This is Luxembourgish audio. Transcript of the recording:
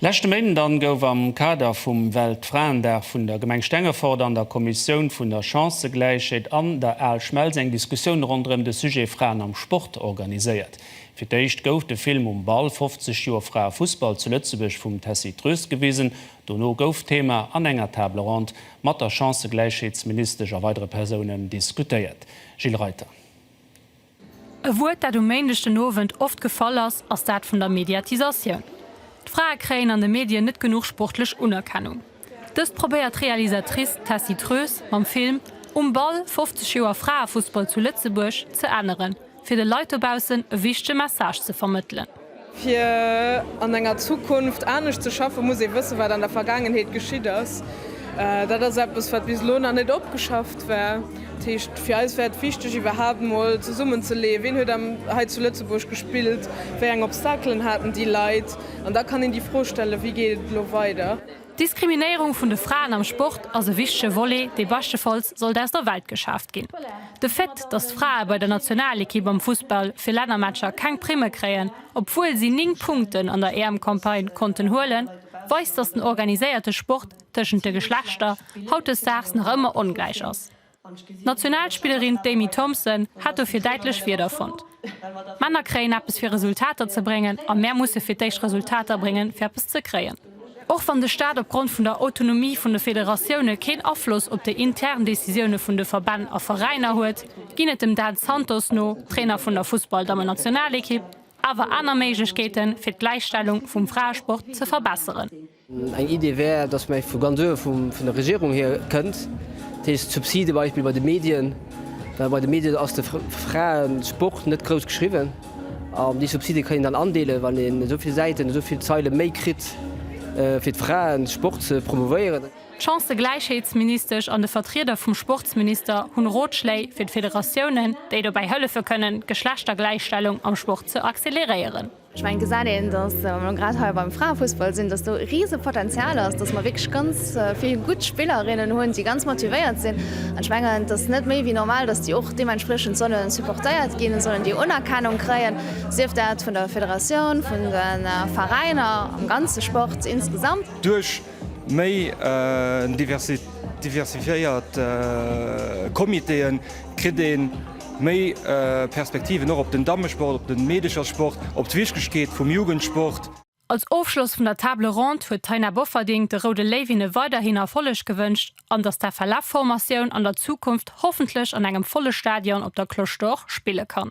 Leschte Méinden dann gouf am Kader vum Weltfraendag vun der Gemeng Stengefort an der Kommissioun vun der Chancëgläichheet an der Aalschmelz eng Diskussioun ronderëm de Sujet Fraen am Sport organiséiert. Fir d'éischt gouf de Film Um Ball, 50 Joer Fraefussball zu Lëtzebuerg vum Tessy Troest gewisen. Dono gouf d'Thema an enger Table ronde mat der Chancëgläichheetsministesch a weidere Persounen diskutéiert. Gilles Reiter. E Wuert, dat um Méindeg den Owend oft gefall ass, ass dat vun der Mediatisatioun. D'Frae kréien an de Medien net genuch sportlech Unerkennung. Dëst probéiert d'Realisatrice Tessy Troes mam Film Um Ball, 50 Joer Fraefussball zu Lëtzebuerg ze änneren, fir de Leit dobaussen e wichtege Message ze vermëttelen. Fir an enger Zukunft anescht ze schaffen, muss ee wëssen, wat an der Vergaangenheet geschitt ass. Dat ass eppes, wat bis elo nach net opgeschafft war. Dat heescht, fir eis war et wichteg, iwwerhaapt mol zesummenzeleeën, wien huet hei zu Lëtzebuerg gespillt, wéi eng Obstaclen haten déi Leit. An da kann een déi Fro stellen, Wéi geet et elo weider? D'Diskriminéierung vun de Fraen am Sport ass e wichtege Volet, dee beschtefalls sollt aus der Welt geschaaft ginn. De Fait, datt d'Frae bei der Nationalekipp am Fussball fir Lännermatcher keng Primme kréien, obwuel si 9 Punkten an der EM-Campagne konnten huelen, weist, datt den organiséierte Sport tëschent de Geschlechter hautdesdaags nach ëmmer ongläich ass. D'Nationalspillerin d'Amy Thompson hat dofir däitlech Wierder fonnt, Männer kréien eppes fir Resultater ze bréngen a mär musse fir d'éischt Resultater bréngen fir eppes ze kréien. Och wann de Staat opgrond vun der Autonomie vun de Federatioune keen Afloss op déi intern Decisioune vun de Verbänn a Veräiner huet, ginn et dem Dan Santos no, Trainer vun der Fussballdammennationalekipp, awer aner Méiglechkeeten fir d'Gläichstellung vum Fraesport ze verbesseren. Eng Idee wär, dass mä vu ganz uewe vun der Regierung hier kënnt, dat heescht d'Subside Beispill bei de Medien, well bei de Medien ass de Fraesport net grouss geschriwwen an déi Subside kann een dann andeelen, wann een esou vill Säiten, esou vill Zeile méi kritt fir de Fraesport ze promouvéieren. D'Chancëgläichheetsministesch an de Vertrieder vum Sportsminister hunn Rotschléi fir d'Federatiounen, déi dobäi hëllefe kënnen d'Geschlechtergläichstellung am Sport ze acceleréieren. Ech mengen, et gesäit een, datt, wa mer grad hei beim Fraefussball sinn, datt do e rise Potenzial ass, datt mer wierklech ganz vill gutt Spillerinnen hunn, déi ganz motivéiert sinn. An ech mengen, et ass net méi wéi normal, datt déi och deementspriechend solle supportéiert ginn, et sollen déi Unerkennung kréien, sief dat vun der Federatioun, vun de Veräiner, am ganze Sport insgesamt. Duerch méi diversifiéiert Comitéen kritt een Méi Perspektiven och op den Dammesport, op den Meedechersport, op d'Wichtegkeet vum Jugendsport. Als Ofschloss vun der Table Ronde huet d'Taina Bofferding de Roude Léiwinne weiderhin Erfolleg gewënscht an dass d'FLF Formatioun an der Zukunft hoffentlech an engem volle Stadion op der Cloche d'Or spille kann.